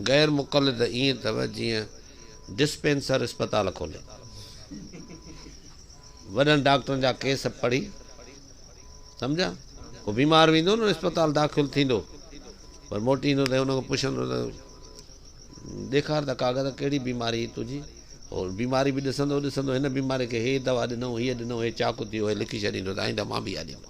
غير مقلد ائين اٿو جيئن ڊسپينسر اسپتال کولي وڏن ڊاڪٽرن جا ڪيس پڙهي سمجهيا ڪو بيمار ويندو نه اسپتال داخل ٿيندو پر موٽي ايندو ته ان کان پڇندو ته ڏيکار ته ڪاغذ ڪهڙي بيماري تنهنجي اور بيماري به ڏسندو ڏسندو هن بيماري کي هي دوا ڏنو هي ڏنو هي چاڪو ٿيو هي لکي ڇڏيندو ته آئنده مان به اها ڏيندو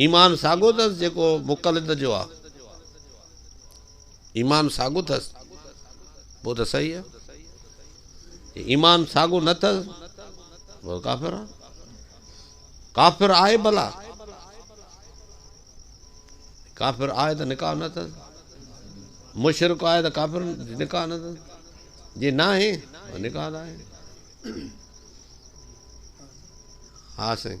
ايمان ساڳيو اٿس جيڪو مقلد جو آ. ايمان ساڳيو اٿس پوء ته صحيح آ. جي ايمان ساڳيو نه اٿس پوء ڪافر آ. ڪافر آهي ڀلا. ڪافر آهي ته نڪاح نه اٿس. مشرڪ آهي ته ڪافر نڪاح نه اٿس. جي ناهي نڪاح آهي. ها سائين.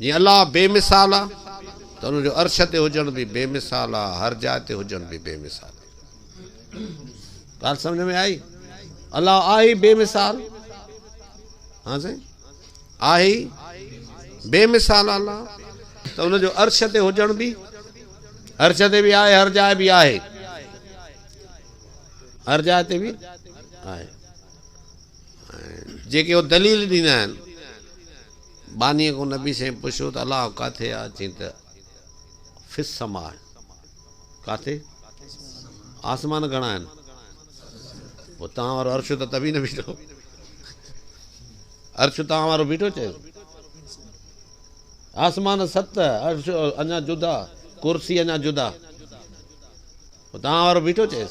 جيئن الله بي مثال آ ته ان جو عرش تي هجڻ به بي مثال آ، هر جاء تي هجڻ به بي مثال آ. ڳالهه سمجهه ۾ آئي؟ الله آهي ئي بي مثال. ها سائين آهي ئي بي مثال الله ته ان جو عرش تي هجڻ به عرش تي به آهي هر جاء به آهي هر جاء تي به آهي. جيڪي هو دليل ڏيندا آهن ٻانهيء کان نبي سائين پڇيو ته الله ڪاٿي آهي؟ چيائين ته في السماء ڪاٿي؟ آسمان گهڻا آهن؟ پوء توهان وارو عرش ته تبي نه بيٺو. عرش توهان وارو بيٺو چيس. آسمان ست، عرش اڃا جدا، ڪرسي اڃا جدا. پوء توهان وارو بيٺو چيس.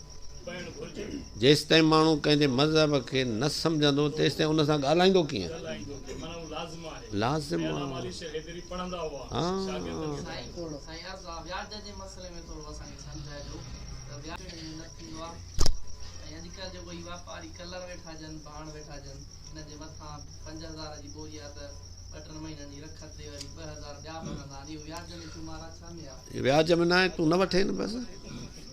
جيستائين ماڻهو ڪنهن جي مذهب کي نه سمجهندو تيستائين ان سان ڳالهائيندو ڪيئن؟ لازم وياج ۾ ناهي تون نه وٺين بس.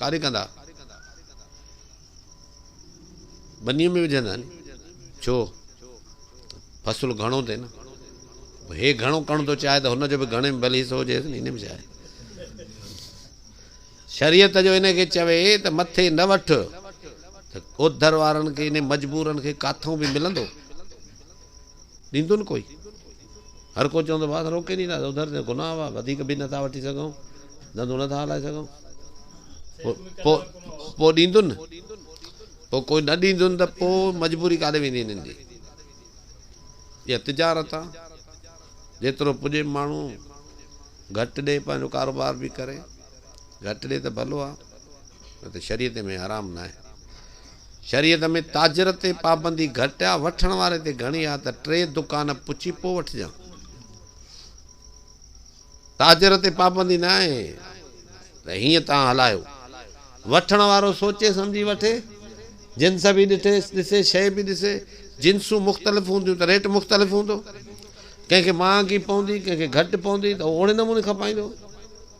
ڪاري ڪندا ٻنيء ۾ وجهندا آهن، ڇو ته فصل گهڻو ٿئي نه، هي گهڻو ڪرڻ ٿو چاهي ته هن جو به گهڻي ۾ ڀلي حصو هجيس نه، ان ۾ ڇا آهي؟ شريعت جو ان کي چوي ته مٿي نه وٺ ته اوڌر وارن کي، يعني مجبورن کي ڪاٿئون به ملندو؟ ڏيندو نه ڪوئي. هر ڪو چوندو بس روڪي ني ٿا اڌر تي گناهه هئا وڌيڪ به نٿا وٺي سگهون ڌنڌو نٿا هلائي سگهون پو پو ڏيندن پو ڪوئي نه ڏيندن ته پو مجبوري ڪاڏي ويندي هنن جي يا تجارت آ جيترو پڄي ماڻهو گهٽ ڏي پنهنجو ڪاروبار به ڪري گهٽ ڏي ته ڀلو آ نه ته شريعت ۾ حرام ناهي. شريعت ۾ تاجر تي پابندي گهٽ آ، وٺڻ واري تي گهڻي آ ته ٽي دڪان پڇي پوء وٺجان. تاجر تي پابندي ناهي ته هيئن تان هلايو. وٺڻ وارو سوچي سمجهي وٺي، جنس به ڏٺي ڏسي، شيء به ڏسي. جنسون مختلف هونديون ته ريٽ مختلف هوندو. ڪنهن کي مهانگي پوندي، ڪنهن کي گهٽ پوندي ته هو اوڙي نموني کپائيندو.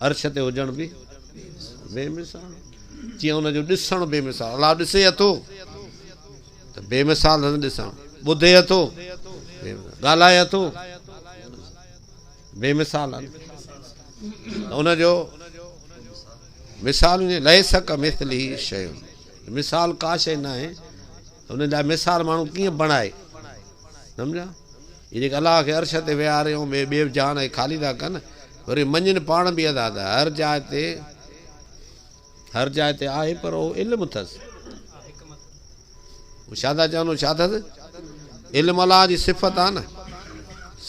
عرش تي هجڻ به بي مثال تيئن ان جو ڏسڻ بي مثال الله ڏسي اٿو ته بي مثال سندس ڏسڻ ٻڌي اٿو ڳالهائي اٿو بي مثال ان جو مثال لئي سڪ مثل هي شيون مثال ڪا شيء ناهي انهن لاء مثال ماڻهو ڪيئن بڻائي. سمجهيا؟ اهي جيڪي الله کي عرش تي ويهاري ۽ ٻئي ٻيو جهان ۽ خالي ٿا ڪن، وري مڃين پاڻ به ادا ته هر جاء تي هر جاء تي آهي پر اهو علم اٿس. هو ڇا ٿا چون ڇا اٿس؟ علم الله جي صفت آهي نه.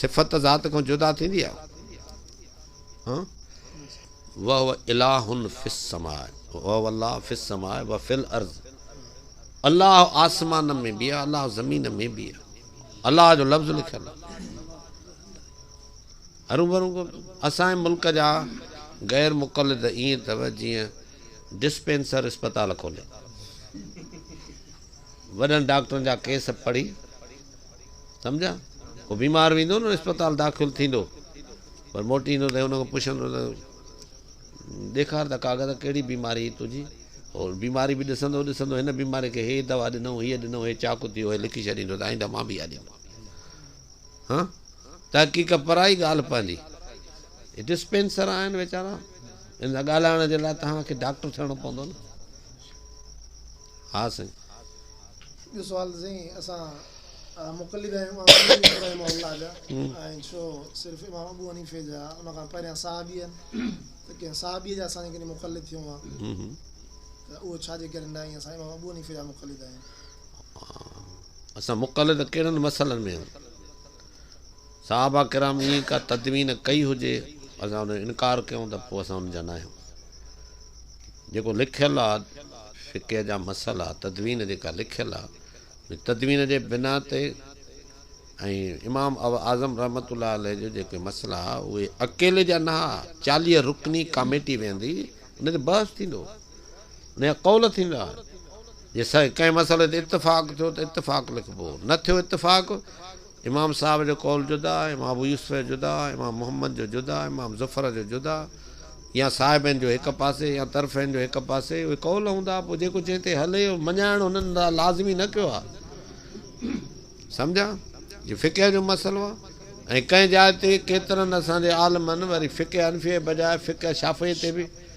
صفت ته ذات کان جدا ٿيندي آهي. وهو اله في السماء وهو الله في السماء وفي الارض الله آسمان ۾ به آهي الله زمين ۾ به آهي الله جو لفظ لکيل هرون ڀرون اسان ملڪ جا غير مقلد ائين اٿو جيئن ڊسپينسر اسپتال کولي وڏن ڊاڪٽرن جا ڪيس پڙهي سمجھا پوء بيمار ويندو نه اسپتال داخل ٿيندو پر موٽي ايندو ته ان کان پڇندو ته ڏيکار ته ڪاغذ ڪهڙي بيماري هئي تنهنجي؟ هو بيماري به ڏسندو ڏسندو هن بيماري کي هي دوا ڏنئون، هيء ڏنئون، هي چاڪ ٿيو، هي لکي ڇڏيندو ته آئنده مان به اها ڏيندس. هان تحقيق پرائي ڳالهه پنهنجي. هي ڊسپينسر آهن ويچارا، هن سان ڳالهائڻ جي لاء توهان کي ڊاڪٽر ٿيڻو پوندو نه. ها سائين. ٻيو سوال ته سائين اسان مقلد آهيون امام حنيفي رحمه الله جا ۽ ڇو صرف امام ابو حنيفي جا ان کان پهريان صحابي آهن ته ڪنهن صحابي جا اسان جي ڪني مقلد ٿيون ها ته اهو ڇا جي ڪري ناهي اسان امام ابو حنيفي جا مقلد آهيون. اسان مقلد ڪهڙن مسئلن ۾ آهيون؟ صحابه ڪرام ائين ڪا تدوين ڪئي هجي اسان ان جو انڪار ڪيون ته پوء اسان ان جا ناهيون. جيڪو لکيل آ فقه جا مسئلا تدوين جيڪا لکيل آ ان تدوين جي بنا تي ۽ امام اعظم رحمة الله عليه جو جيڪي مسئلا اهي اڪيلي جا نه آ چاليهه رڪني ڪاميٽي ويهندي ان تي بحث ٿيندو. ۾ قول ٿيندا آهن. جي سائين ڪنهن مسئلي تي اتفاق ٿيو ته اتفاق لکبو، نه ٿيو اتفاق، امام صاحب جو قول جدا، امام ابو يوسف جو جدا، امام محمد جو جدا، امام زفر جو جدا يا صاحبين جو هڪ پاسي يا طرفين جو هڪ پاسي، اهي قول هوندا، پوء جيڪو جنهن تي هلي، اهو مڃائڻ هنن لاء لازمي نه ڪيو آهي. سمجهيا؟ جي فقه جو مسئلو آهي ۽ ڪنهن جاء تي ڪيترن اسان جي عالمن وري فقه حنفيء جي بجاء فقه شافعيء تي به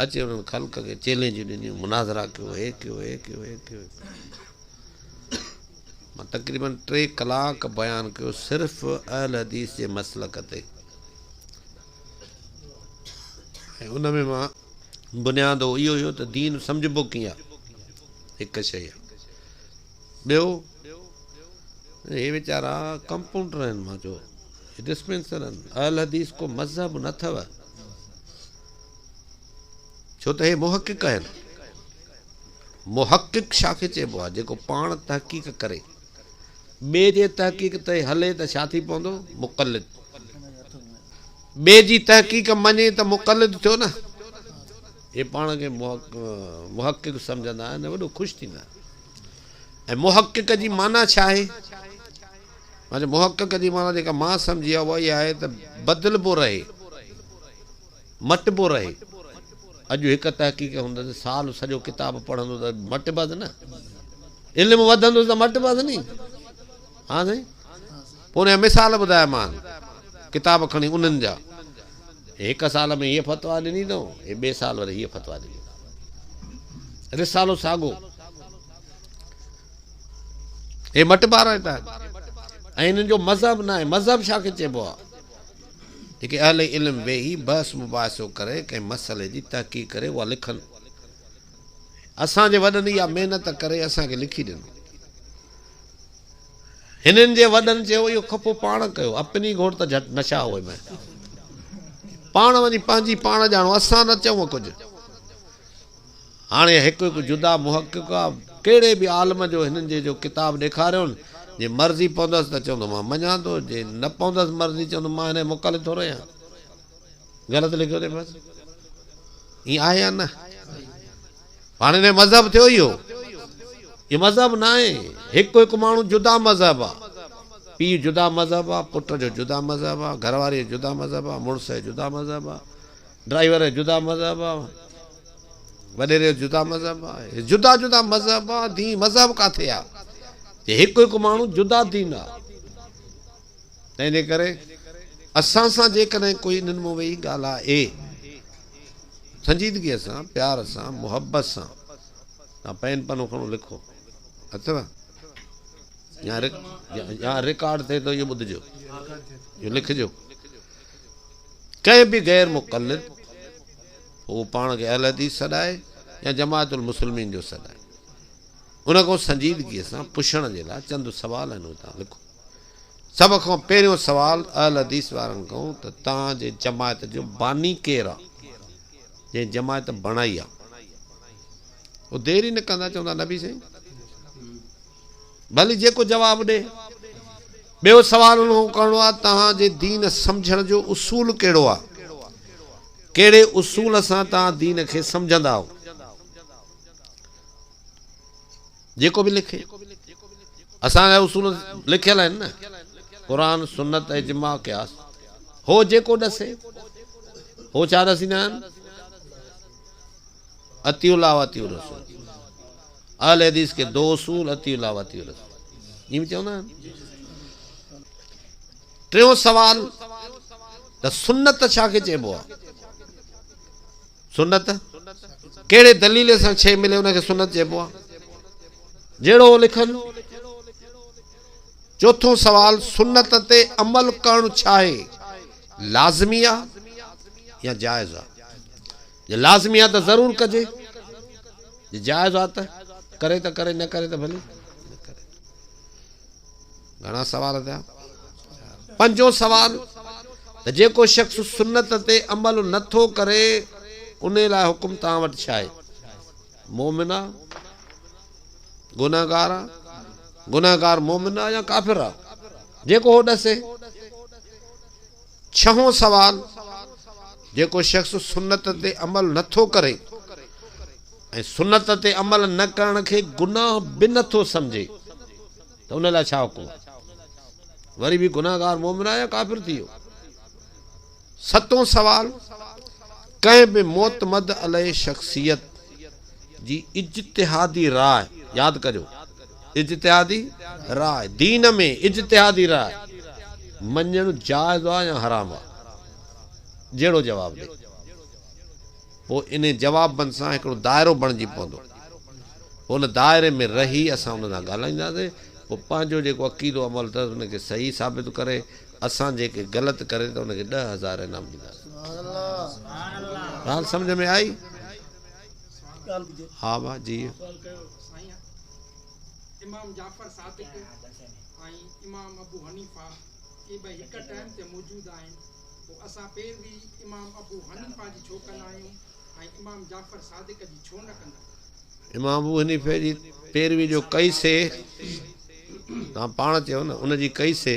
اچي انهن خلق کي چئلينجون ڏنيون، مناظرا ڪيو، هي ڪيو، هي ڪيو، هي ڪيو، هي ڪيو. مان تقريباً ٽي ڪلاڪ بيان ڪيو صرف اهل حديث جي مسلڪ تي ۽ ان ۾ مان بنياد اهو اهو هيو ته دين سمجهبو ڪيئن آهي هڪ شيء آهي ٻيو هي ويچارا ڪمپاؤنڊر آهن مان چيو ڊسپينسر آهن اهل حديث ڪو مذهب نه اٿو ڇو ته هي محقق آهن. محقق ڇا کي چئبو آهي؟ جيڪو پاڻ تحقيق ڪري، ٻئي جي تحقيق تي هلي ته ڇا ٿي پوندو؟ مقلد. ٻئي جي تحقيق مڃي ته مقلد ٿيو نه؟ اهي پاڻ کي محقق سمجهندا آهن ۽ وڏو خوش ٿيندا آهن. ۽ محقق جي معنيٰ ڇا آهي؟ مانجي محقق جي معنيٰ جيڪا مان سمجهي آ اها اها آهي ته بدلبو رهي، مٽبو رهي. اڄ هڪ تحقيق هوندس ته سال سڄو ڪتاب پڙهندو ته مٽبس نه. علم وڌندس ته مٽبس ني. ها سائين. پوء ان جا مثال ٻڌايا مان ڪتاب کڻي انهن جا. هي هڪ سال ۾ هيء فتويٰ ڏني اٿئون، هي ٻئي سال وري هيء فتويٰ ڏني اٿئون. رسالو ساڳو. هي مٽ پارائتا آهن ۽ هنن جو مذهب ناهي، مذهب ڇا کي چئبو آهي؟ جيڪي اهل علم ويهي بحث مباحثو ڪري ڪنهن مسئلي جي تحقيق ڪري اها لکن. اسان جي وڏن اها محنت ڪري اسان کي لکي ڏنو. هنن جي وڏن چيو اهو کپو پاڻ ڪيو اپني گهوڙ ته جهٽ نشا هوئي مئي. پاڻ وڃي پنهنجي پاڻ ڄاڻو اسان نه چئون ڪجهه. هاڻي هڪ هڪ جدا محقق آ ڪهڙي به عالم جو هنن جي جو ڪتاب ڏيکاريون جي مرضي پوندس ته چوندو مان مڃان ٿو جي نه پوندس مرضي چوندو مان هن جو مقلد ٿورو آهيان غلط لکيو اٿئي بس ائين آهي يا نه هاڻي هن مذهب ٿيو اهو اهو مذهب نه آهي هڪ هڪ ماڻهو جدا مذهب آ پيء جدا مذهب آ پٽ جو جدا مذهب آ گهرواري جو جدا مذهب آ مڙس جو جدا مذهب آ ڊرائيور جو جدا مذهب آ وڏيري جو جدا مذهب آ. هي جدا جدا مذهب آ. دين مذهب ڪاٿي آ جي هڪ هڪ ماڻهو جدا دين آ. تنهنجي ڪري اسان سان جيڪڏهن ڪوئي انهن مون ويهي ڳالهاء اي سنجيدگيء سان، پيار سان، محبت سان تان پين پنو کڻو لکو. اٿو يا رڪارڊ ٿئي ٿو اهو ٻڌجو. اهو لکجو. ڪنهن به غير مقلد هو پاڻ کي اهل حديث سڏائي يا جماعت المسلمين جو سڏائي ان کان سنجيدگيء سان پڇڻ جي لاء چند سوال هن اتان لکو. سڀ کان پهريون سوال اهل حديث وارن کان ته توهان جي جماعت جو باني ڪير آ؟ جنهن جماعت بڻائي آ؟ هو دير ئي نه ڪندا چوندا نبي سائين! ڀلي جيڪو جواب ڏي. ٻيو سوال ان کان ڪرڻو آهي توهان جي دين سمجهڻ جو اصول ڪهڙو آهي؟ ڪهڙي اصول سان توهان دين کي سمجهندا آهو؟ جيڪو به لکي. اسان جا اصول لکيل آهن نه قرآن، سنت، اجماع، قياس. هو جيڪو ڏسي. هو ڇا ڏسيندا آهن؟ اطيعوا الله واطيعوا الرسول. اهل حديث کي دو اصول اطيعوا الله واطيعوا الرسول ائين به چوندا آهن. ٽيون سوال ته سنت ڇا کي چئبو آهي؟ سنت ڪهڙي دليل سان شيء ملي ان کي سنت چئبو آهي؟ جهڙو لکن چوٿون سوال سنت تي عمل ڪرڻ ڇا آهي لازمي آهي يا جائز آهي جي لازمي آهي ته ضرور ڪجي جي جائز آ ته ڪري ته ڪري نه ڪري ته ڀلي نه ڪري گهڻا سوال ٿيا پنجون سوال ته جيڪو شخص سنت تي عمل نه ٿو ڪري انهي لاء حڪم توهان وٽ ڇا آهي مومن آ گناهگار آ گناهگار مومن آ يا ڪافر آ جيڪو هو ڏسي ڇهون سوال، جيڪو شخص سنت تي عمل نه ٿو ڪري ۽ سنت تي عمل نه ڪرڻ کي گناھ به نه ٿو سمجهي ته ان لاء ڇا حڪم آهي؟ وري به گناھگار مؤمن آهي يا ڪافر ٿي ويو؟ ستون سوال، ڪنهن به معتمد عليه شخصيت، جي اجتهادي راء ياد ڪريو اجتهادي راء دين ۾ اجتهادي راء مڃڻ جائز آ يا حرام آ جهڙو جواب ڏي پوء انهي جوابن سان هڪڙو دائرو بڻجي پوندو پوء ان دائري ۾ رهي اسان ان سان ڳالهائينداسين پوء پنهنجو جيڪو عقيدو عمل اٿس ان کي صحيح ثابت ڪري اسان جيڪي غلط ڪري ته ان کي ڏهه هزار انعام ڏينداسين ڳالهه سمجهه ۾ آئي ها ها جي امام جعفر صادق امام ابو حنيفه اي به هڪ ٽائيم تي موجود آهن پو اسان پيروي امام ابو حنيفه جي ڇو ڪندا آهيون ۽ امام جعفر صادق جي ڇو نه ڪندا امام ابو حنيفه جي پيروي جو ڪئي سي، توهان پاڻ چيو نه، ان جي ڪئي سي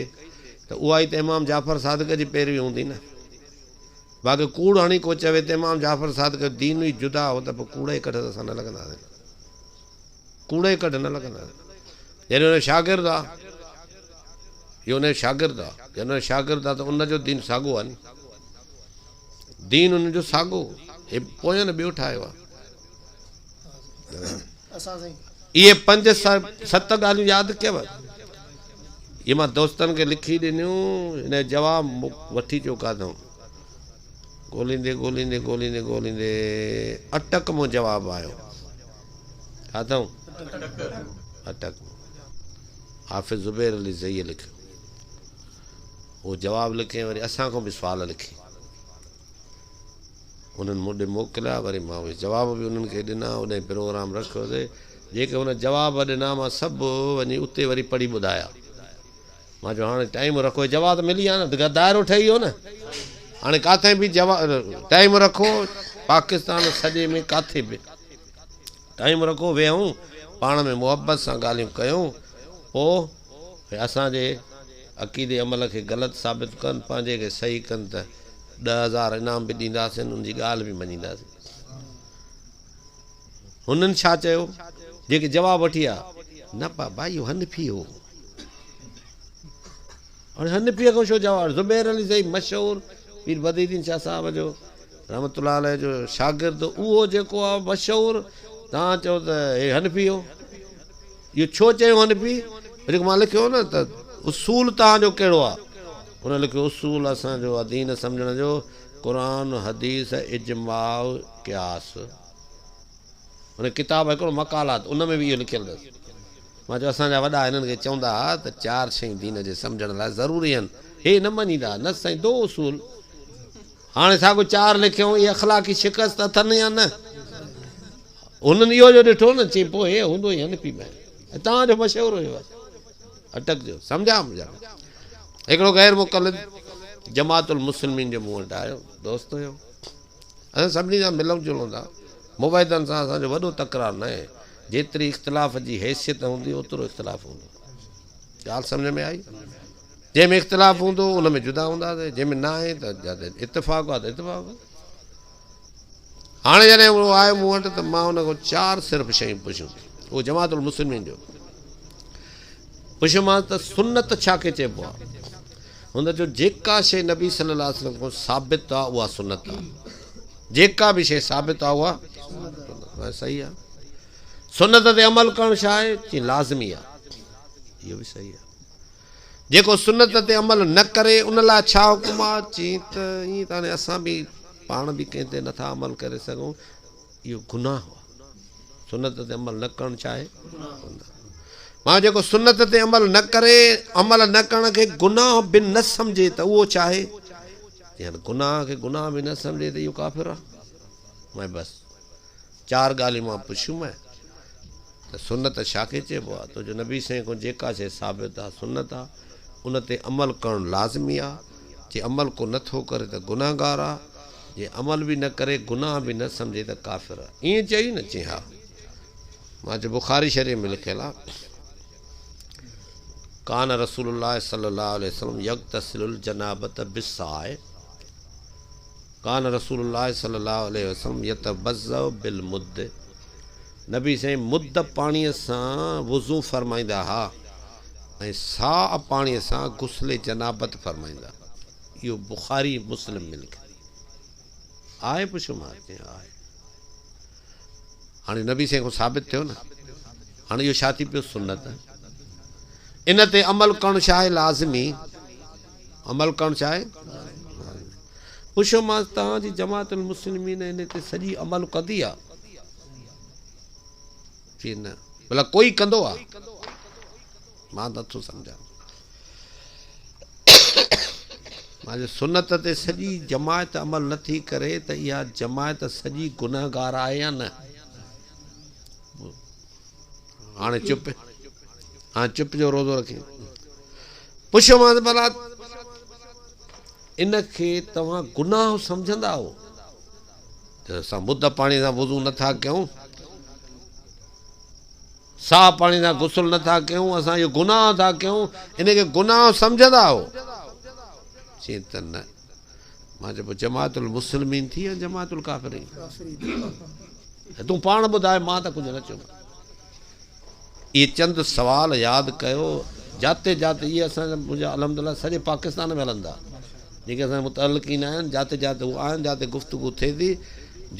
ته اها ئي ته امام جعفر صادق جي پيروي هوندي نه. باقي ڪوڙ هڻي ڪو چوي ته امام جعفر صادق جو دين ئي جدا هو ته پوء ڪوڙ ئي ڪڍ ته اسان نه لڳنداسين. ڪوڙ ئي ڪڍ نه لڳنداسين. يعني ان جو شاگرد آ. جو ان جو شاگرد آ. جڏهن ان جو شاگرد آ ته ان جو دين ساڳو آ ني. دين ان جو ساڳو هي پوين ٻيو ٺاهيو آ. اهي پنج ست ڳالهيون ياد ڪيو. اهي مان دوستن کي لکي ڏنيون. هن جواب وٺي چيو ڪاڌم. ڳوليندي ڳوليندي ڳوليندي ڳوليندي اٽڪ مون جواب آيو. ڪاڌم؟ اٽڪ. حافظ زبير علي زئيء لکيو. هو جواب لکي ۽ وري اسان کان به سوال لکي انهن مون ڏي موڪليا، وري مان اهي جواب به انهن کي ڏنا، اوڏانهن پروگرام رکيو سي، جيڪي هن جواب ڏنا مان سڀ وڃي اتي وري پڙهي ٻڌايا، مان چيو هاڻي ٽائيم رکو، جواب ته ملي ويا نه، ته دائرو ٺهي ويو نه، هاڻي ڪاٿي به ٽائيم رکو، پاڪستان سڄي ۾ ڪاٿي به ٽائيم رکو، ويهون پاڻ ۾ محبت سان ڳالهيون ڪيون، پوء. ۽ اسان جي عقيدي عمل کي غلط ثابت ڪن، پنهنجي کي صحيح ڪن ته ڏهه هزار انعام به ڏينداسين، ان جي ڳالهه به مڃينداسين. هنن ڇا چيو؟ جيڪي جواب وٺي آيا، نه پاء ڀائي اهو حنفي هو. هاڻي حنفيء کان ڇو جواب؟ زبير علي زئي مشهور پير بدر الدين شاهه صاحب جو رحمة الله عليه جو شاگرد اهو جيڪو آهي مشهور تان چئو ته هي حنفي هو. اهو ڇو چيو هن پي جيڪو مان لکيو هو نه ته اصول توهان جو ڪهڙو آ؟ هن لکيو اصول اسان جو آ دين سمجهڻ جو قرآن حديث اجماع قياس هن ڪتاب هڪڙو مقالات ان ۾ به اهو لکيل اٿس مان چيو اسان جا وڏا هنن کي چوندا ها ته چار شيون دين جي سمجهڻ لاء ضروري آهن هي نه مڃيندا ها نه سائين دو اصول هاڻي ساڳو چار لکيون اهي اخلاقي شڪست اٿن يا نه هنن اهو جو ڏٺو نه چي پوء هوندو ئي هنپي مهر ۽ توهان جو مشهور هيو بس اٽڪ جو سمجهاء مجهاء هڪڙو غير مقلد جماعت المسلمين جي مون وٽ آيو دوست هيو اسان سڀني سان ملون جلون ٿا مبيدن سان اسان جو وڏو تڪرار نه آهي جيتري اختلاف جي حيثيت هوندي اوترو اختلاف هوندو ڳالهه سمجھ ۾ آئي جنهن ۾ اختلاف هوندو ان ۾ جدا هونداسي جنهن ۾ نه آهي ته اتفاق آهي ته اتفاق هاڻي جڏهن اهو آيو مون وٽ ته مان ان کان چار صرف شيون پڇيون. اهو جماعت المسلمين جو پڇيومانس ته سنت ڇا کي چئبو آهي؟ هن چيو جيڪا شيء نبي صلي الله عليه وسلم کان ثابت آهي اها سنت آهي. جيڪا به شيء ثابت آهي اها سنت آهي. صحيح آهي. سنت تي عمل ڪرڻ ڇا آهي؟ چيائين لازمي آهي. اهو به صحيح آهي. جيڪو سنت تي عمل نه ڪري ان لاء ڇا حڪم آ؟ چين ته ائين ته هاڻي اسان به پاڻ به ڪنهن تي نٿا عمل ڪري سگهون اهو گناهه آ سنت تي عمل نه ڪرڻ ڇا آهي؟ گناهه معنيٰ جيڪو سنت تي عمل نه ڪري عمل نه ڪرڻ کي گناهه به نه سمجهي ته اهو ڇا آهي؟ چين گناهه کي گناهه به نه سمجهي ته اهو ڪافر آ معنيٰ بس چار ڳالهيون مان پڇيومانء ته سنت ڇا کي چئبو آ؟ توجو نبي سائين کان جيڪا شيء ثابت آ، سنت آ، ان تي عمل ڪرڻ لازمي آ، جي عمل ڪو نه ٿو ڪري ته گنهگار آ، جي عمل به نه ڪري، گناهه به نه سمجهي ته ڪافر آ. ائين چئي نه؟ چيائين ها. مان چيو بخاري شريف ۾ لکيل آ، ڪان رسول الله صلي الله عليه وسلم يغتسل الجنابة بالساعي. ڪان رسول الله صلي الله عليه وسلم يتوضع بالمد نبي سائين مد پاڻي سان وضو فرمائيندا ها ۽ ساء پاڻي سان غسل جنابت فرمائيندا اهو بخاري مسلم ۾ لکيل آهي پڇو مان ڪيئن آهي هاڻي نبي سين کان ثابت ٿيو نه هاڻي اهو ڇا ٿي پيو سنت ان تي عمل ڪرڻ شاهه لازمي عمل ڪرڻ ڇا آهي؟ پڇيومانس توهان جي جماعت المسلمين ان تي سڄي عمل ڪندي آ؟ چي نه. ڀلا ڪوئي ڪندو آ؟ مان نٿو سمجهان. مان چيو سنت تي سڄي جماعت عمل نٿي ڪري ته اها جماعت سڄي گنهگار آهي يا نه؟ هاڻي چپ هاڻي چپ جو روزو رکي پڇيومانس ڀلا ان کي توهان گناهه سمجهندا آهو اسان مد پاڻي سان وضو نٿا ڪيون ساهه پاڻي سان غسل نٿا ڪيون اسان اهو گناهه ٿا ڪيون ان کي گناهه سمجهندا آهو چي ته نه مان چيو پوء جماعت المسلمين ٿي يا جماعت الڪافرين تون پاڻ ٻڌاء مان ته ڪجهه نه چيو اهي چند سوال ياد ڪيو جاتي جاتي اهي اسان جا منهنجا الحمدلله سڄي پاڪستان ۾ هلندا جيڪي اسان جا متعلقين آهن جاتي جاتي هو آهن جاتي گفتگو ٿئي ٿي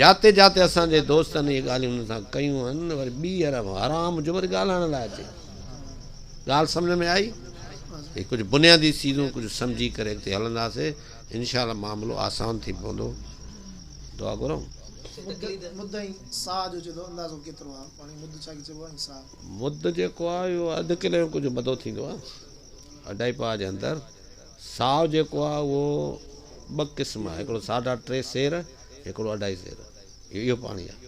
جاتي جاتي اسان جي دوستن اهي ڳالهيون هن سان ڪيون آهن وري ٻيهر حرام جو وري ڳالهائڻ لاء اچي ڳالهه سمجهه ۾ آئي؟ هي ڪجهه بنيادي چيزون ڪجهه سمجهي ڪري اڳتي هلنداسين انشاء الله معاملو آسان ٿي پوندو دعا گهرون. مد جيڪو آهي اهو اڌ ڪلي جو ڪجهه مدو ٿيندو آهي اڍائي پاء جي اندر ساهه جيڪو آهي اهو ٻه قسم آهي هڪڙو ساڍا ٽي سير هڪڙو اڍائي سير اهو پاڻي آهي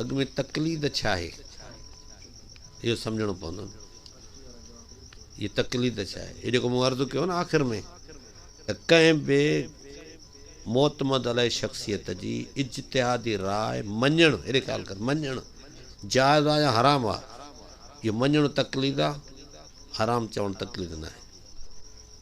اڳ ۾ تقليد ڇا آهي اهو سمجهڻو پوندو هي تقليد ڇا آهي هي جيڪو مون عرض ڪيو نه آخر ۾ ته ڪنهن به معتمد علي شخصيت جي اجتهادي راء مڃڻ هيڏي خيال ڪر مڃڻ جائز آ يا حرام آ اهو مڃڻ تقليد آ حرام چوڻ تقليد نه آهي